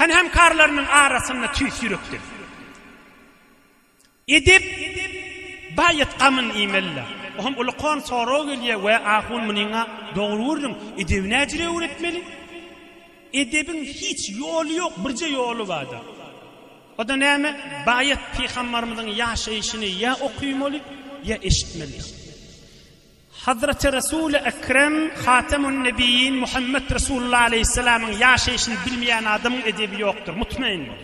Hany hemkarlarynyň arasynda tüýs ýürekden. Edep baýat gamyn iýmeli-le. O hem uly-kon sorag gelýär, Wä, ahun, munyň-a dogry gürrüň, edebi näjire öwretmeli? Edebiň hiç ýoly ýok, birje ýoly bar-da. O-da näme? Baýat pygambarymyzyň ýaşaýşyny ýa okaýmaly, ýa eşitmeli. Hazreti Resul-i Ekrem, Hatemun-Nebiyyin Muhammed Resulullah Aleyhisselamyň ýaşaýşyny bilmeýän adamyň edebi ýokdur, mutmaýyn bol.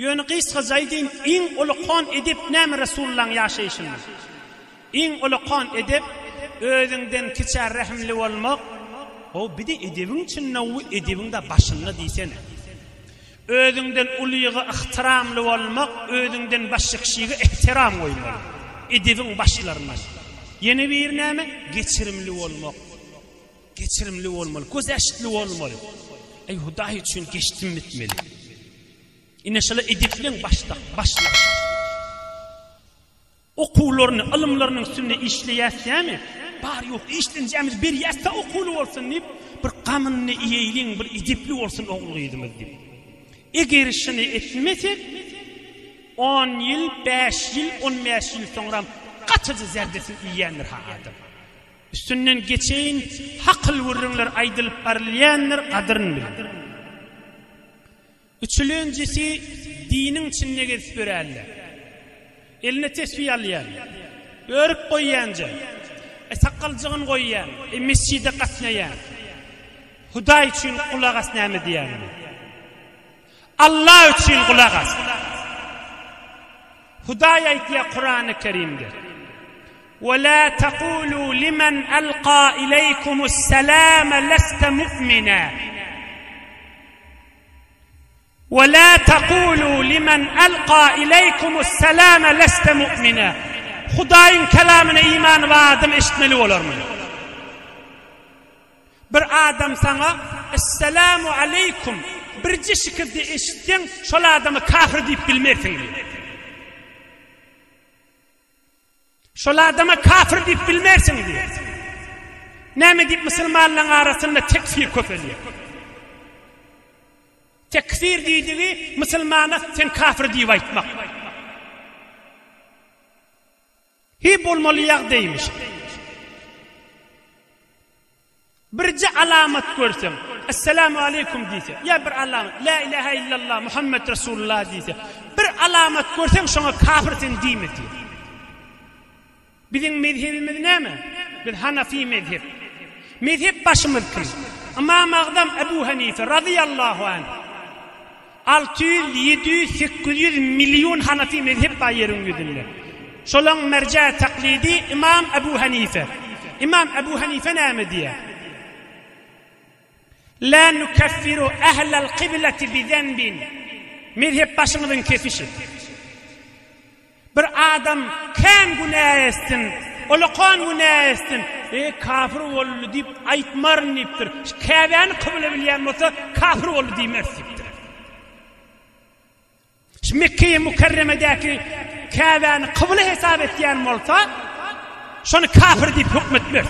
Ýöne gysgaça aýdaýyn, iň olakan edep näme Resulullahyň ýaşaýşynda? Iň olakan edep, özüňden kiçä rehimli bolmak, Ho, bir-de edebiň çyn, o edebiň-de başynda diýsene. Özüňden ulyga ygtyramly bolmak, özüňden başga kişige ähtiram goýmak, edebiň başlaryndan. Ýene biri näme? Geçirimli bolmak. Geçirimli bolmaly, gözeştli bolmaly. Eý, Hudaý üçin geçdim etmeli. Ine, şular edepliň başda, başlygy. Okuwlaryny, ylymlaryny üstünde işleýäsýämi? Bar, ýok, işlenjämiz berýäs-dä okuwly bolsun diýip, bir gamyny iýeýliň, bir edepli bolsun ogul-gyzymyz diýip. Eger şuny etmesek, on ýyl, bäş ýyl, on bäş ýyl soňram gatyja zärbesini iýendir-hä adam. Üstünden geçeýin, hakyl gürrüňler aýdylyp barylýandyr, gadyryny bilip. Üçülenjisi diniň içinde gezip ýöränler. Eline tesbi alýan, örüp goýýanja, sakaljagyny goýýan, mesjide gatnaýan. Hudaý üçin gulak as näme diýýänini. Alla üçin gulak as. Hudaý aýtýar Kurany Kerimde. Ve la taqulu limen alqa ileykumus selam leste mu'mina. We la tekulu limen elqa ileýkumus selame leste mu'mine. Hudaýyň kelamyna imany bar adam eşitmeli bolar muny. Bir adam saňa Esselamu aleýkum birje şikirdi eşitseň şol adama kafir diýip bilmersiň diýdi. Şol adama kafir diýip bilmersiň diýýär. Näme diýip musulmanlaryň arasynda tekfir köpelýär. Tekfir diýdigi musulmana sen kafir diýip aýtmak. Hi bolmaly ýagdaýmyş. Birje alamat görseň, Esselamu aleýkum diýse, ýa bir alamat, Lä ilähä illallah Muhammet Resulullah diýse, bir alamat görseň, şoňa kafir sen diýme diýýär. Biziň mezhebimiz näme? Biz Hanafi mezhep. Mezhep başymyz kim? Ymam Agzam Ebu Hanife razyýallahu anh. Alty ýüz, ýedi ýüz, sekiz ýüz million hanafi mezhep bar ýeriň ýüzünde. Şolaň merjä taklidi Ymam Abu Hanife. Ymam Abu Hanife näme diýýär? La nukeffiru ahlal kibleti bi zenbin. Mezhep başyňyzyň kesişi. Bir adam kän günä etsin, olakan günä etsin, E, kafir boldy diýip aýtmaryn diýipdir. Şu Käbäni kybla bilýän bolsa, kafir boldy diýmez diýipdir. Şu Mekkeýi Mükerremedäki Käbäni kybla hesap etýän bolsa, şony kafir diýip hökmetmez.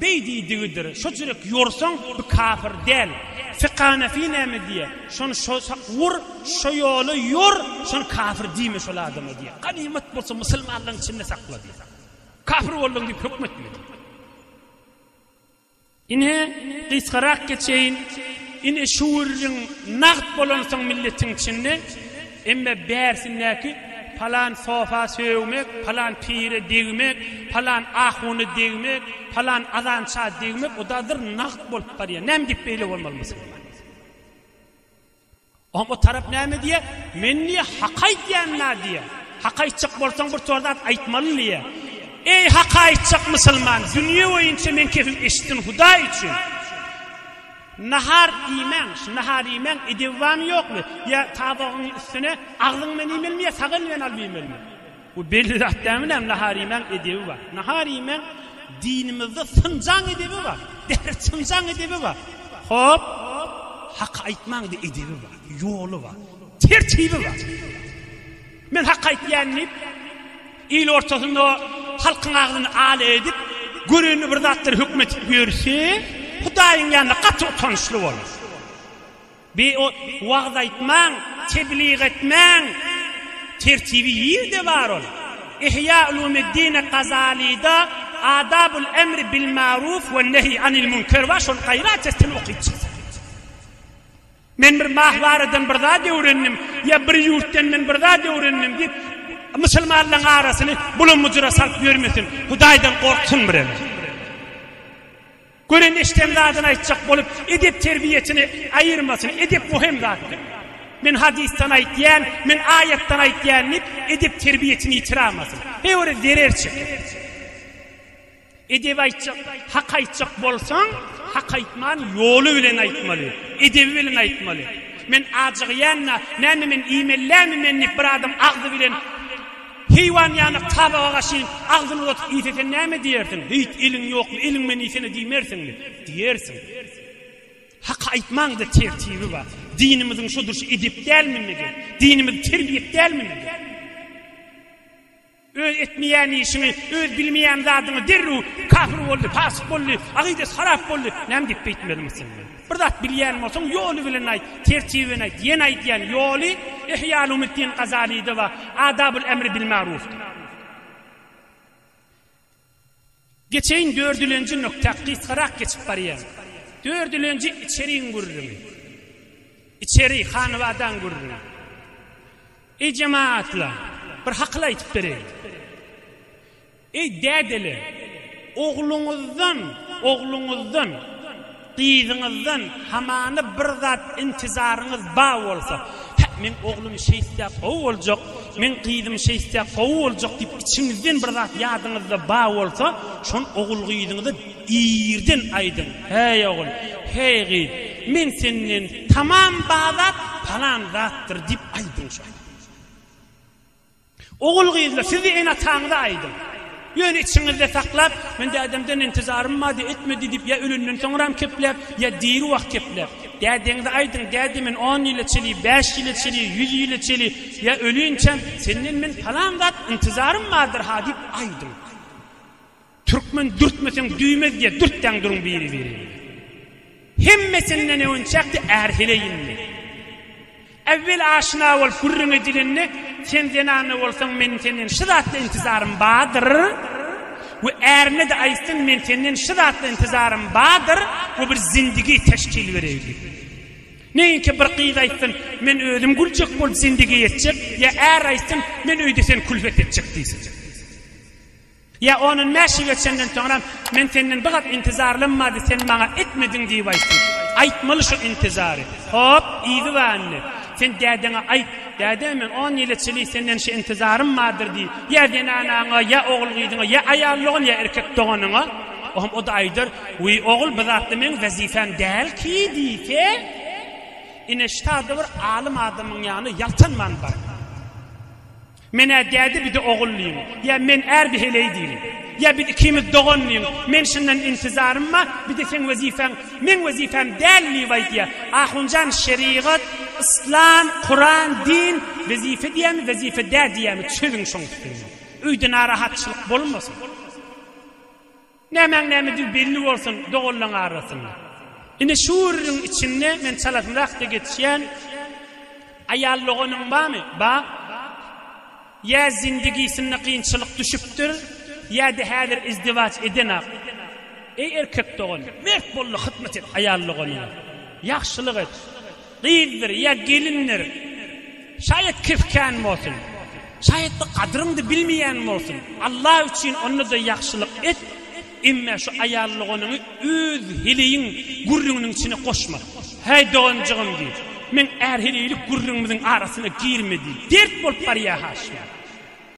Beý diýdigidir, şo çürek ýorsaň, bu kafir däl. Fykanafi näme diýýär? Şony şo sak ur, şo ýola ýor, şony kafir diýme şol adama diýýär. Ganymat bolsa musulmanlaryň içinde sakla diýýär. Kafir bolduň diýip höküm etme diýýär. Ine, gysgarak geçeýin. Ine, şu gürrüň nagt bolansoň milletiň içinde, Emme bärsindäki palan sofa sögmek, palan pire degmek, palan ahuna degmek, palan azança degmek o dadyr nagt bolup barýar. Näme diýip beýle bolmaly musulman? Oň o tarap näme diýär? Men niýe hak aýdýan na diýär. Hak aýtjak bolsaň bir tor zat aýtmaly diýär. Eý hak aýtjak musulman, dünýe boýunça men kepim eşitsin Hudaý üçin. Nahar iýmäň, şu nahar iýmäň edebi barmy ýokmy? Ýa tabagyň üstüne agzyň bilen iýmelimi ýa sag eliň bilen alyp iýmelimi? Bu belli zat dälmi näme nahar iýmäň edebi bar. Nahar iýmäň dinimizde synjaň edebi bar, däri çynjaň edebi bar. Hop, haky aýtmaň-da edebi bar, ýoly bar, tertibi bar. Men haky aýtýan diýip. Il ortasynda halkyň agzyny al edip, görenini bir zatlar höküm etip ýörse, Hudaýyň ýanynda gaty utançly bolar. Bi o wagyz aýtmaň, tebliğ etmäň tertibi ýerde bar ol. Ihýa Ulumiddine Gazalida Adabul emri bil maruf we nehy anil münker bar, şony gaýrat etsin okyp çyk. Men bir mahwaradan bir zat öwrendim ýa bir ýurtdan men bir zat öwrendim diýip, musulmanlaryň arasyny bulam-bujura salyp ýörmesin. Hudaýdan gorksun birem. Gören-eşden zadyny aýtjak bolup, edep-terbiýesini aýyrmasyn. Edep möhüm zatdyr. Men hadysdan aýtýan, men aýatdan aýtýan diýip, edep-terbiýesini ýitiramasyn. Her biri zerer çeker. Edebi aýtjak, hak aýtjak bolsaň, hak aýtman ýoly bilen aýtmaly, edebi bilen aýtmaly. Men ajygýan-da, näme men iýmelilämi men diýip bir adam agzy bilen heýwan ýanak tabaga gaşyn agzyny uzatyp iýse sen näme diýersiň? Beýt, eliň ýokmy, eliň bilen iýsene diýmersiňmi? Diýersiň. Hak aýtmaň-da tertibi bar. Dinimiziň şu durşy edep dälmi mege? Dinimiz terbiýet dälmi mege? Öz etmeýän işiňi, öz bilmeýän zadyňy derrew kafir boldy, fasyk boldy, akydasy harap boldy, näme diýip beýtmeli musulman? Bir zat bilýän bolsaň, ýoly bilen aýt, tertibini aýt, ýene aýdýan, ýoly Ihýaulumuddin Gazalyda bar, Adabul emri bil marufda. Geçeýin dördülenji nukta gysgarak geçip barýan. Dördülenji içeriň gürrüňi. Içeri, hanybadaň gürrüňi. Eý jemagatlar, bir hakyl aýtyp bereýin. Eý dädeler, ogluňyzdan, ogluňyzdan. Gyzyňyzdan hamana bir zat intizaryňyz ba bolsa, hä, meň oglum şeýtse gowy boljak, meň gyzym şeýtse gowy boljak diýip içiňizden bir zat ýadyňyzda ba bolsa, şon ogul-gyzyňyza irden aýdyň, Häý, ogul, häý, gyz, men senden tamam ba zat palan zatdyr diýip aýdyň şoňa. Ogul-gyzlar, siz-de ene-ataňyza aýdyň. Ýöne içiňizde saklap, Men dädemden intizarym bar, diýip etme diýdip, ýa ölenden soňram kepläp, ýa diri wagt kepläp. Dädeňize aýdyň, Däde, men on ýyl içeli, bäş ýyl içeli, ýüz ýyl içeli, ýa ölinçäm, senden men palan zat intizarym bardyr-ha diýip aýdyň. Türkmen dürtmeseň düymez diye dürtdäň duruň biri birini. Hemmesinden öňçäkde är heleýindi. Äwwel aşna bolup gürrüň edilende sen zenanna bolsaň meniň senden şu zatda intizarym bardyr we ärine-de aýtsyn men senden şu zatda intizarym bardyr we bir zindigi teşkil bereýlik. Neýinki bir gyz aýtsyn men özüm güljek bolup zindigi etjek ýa är aýtsyn men öýde sen külfet etjek diýsin. Ýa on-on bäş ýyl geçenden soňram, Men senden bir zat intizarlym bardy, sen maňa etmediň diýip aýtsyn. Aýtmaly şu intizary. Hop, yzy bar indi. Sen dädeňe aýt, Däde, men on ýyla çenli senden şu intizarym bardyr diý. Ýa zenanaňa, ýa ogul-gyzyňa, ýa aýal dogan, ýa erkek doganyňa. Oňam o-da aýdar, Wiý, ogul, bu zatlar meň wezipem däl ki diýse, ine ştada bir alym adamyň ýanyna ýaltanman bar. Men-ä däde bide ogul diýiň, ýa men är bi heleý diýiň, ýa biz ikimiz dogan diýiň, men şundan intizarym bar, bide seň wezipäň, meň wezipäm däl diýip aýdýa. Ahunjan şerigat, yslam, kuran, din wezipe diýämi, wezipe dä diýämi çözüň şoň üstünde. Öýde narahatçylyk bolmasyn. Nämäň nämedigi belli bolsun doganlaň arasynda. Ine şu gürrüň içinde men çalasynrakda geçýän Aýal doganyň barmy? Bar. Ýa zindigisinde kynçylyk düşüpdir, ýa-da häzir izdiwaç edenok. Eý erkek dogan, mert bol-da hyzmat et aýal doganyňa. Ýagşylyk et. Gyzdyr ýa gelindir, şaýat kifkän bolsun, şaýat-da gadyryňdy bilmeýän bolsun, Alla üçin onda-da ýagşylyk et, emme şu aýal doganyňy öz heleýiň gürrüňiniň içine goşma. Häý, doganjygym, diýip, meň är heleýlik gürrüňimiziň arasyna girme diýip, dert bolup barýar-ha şular.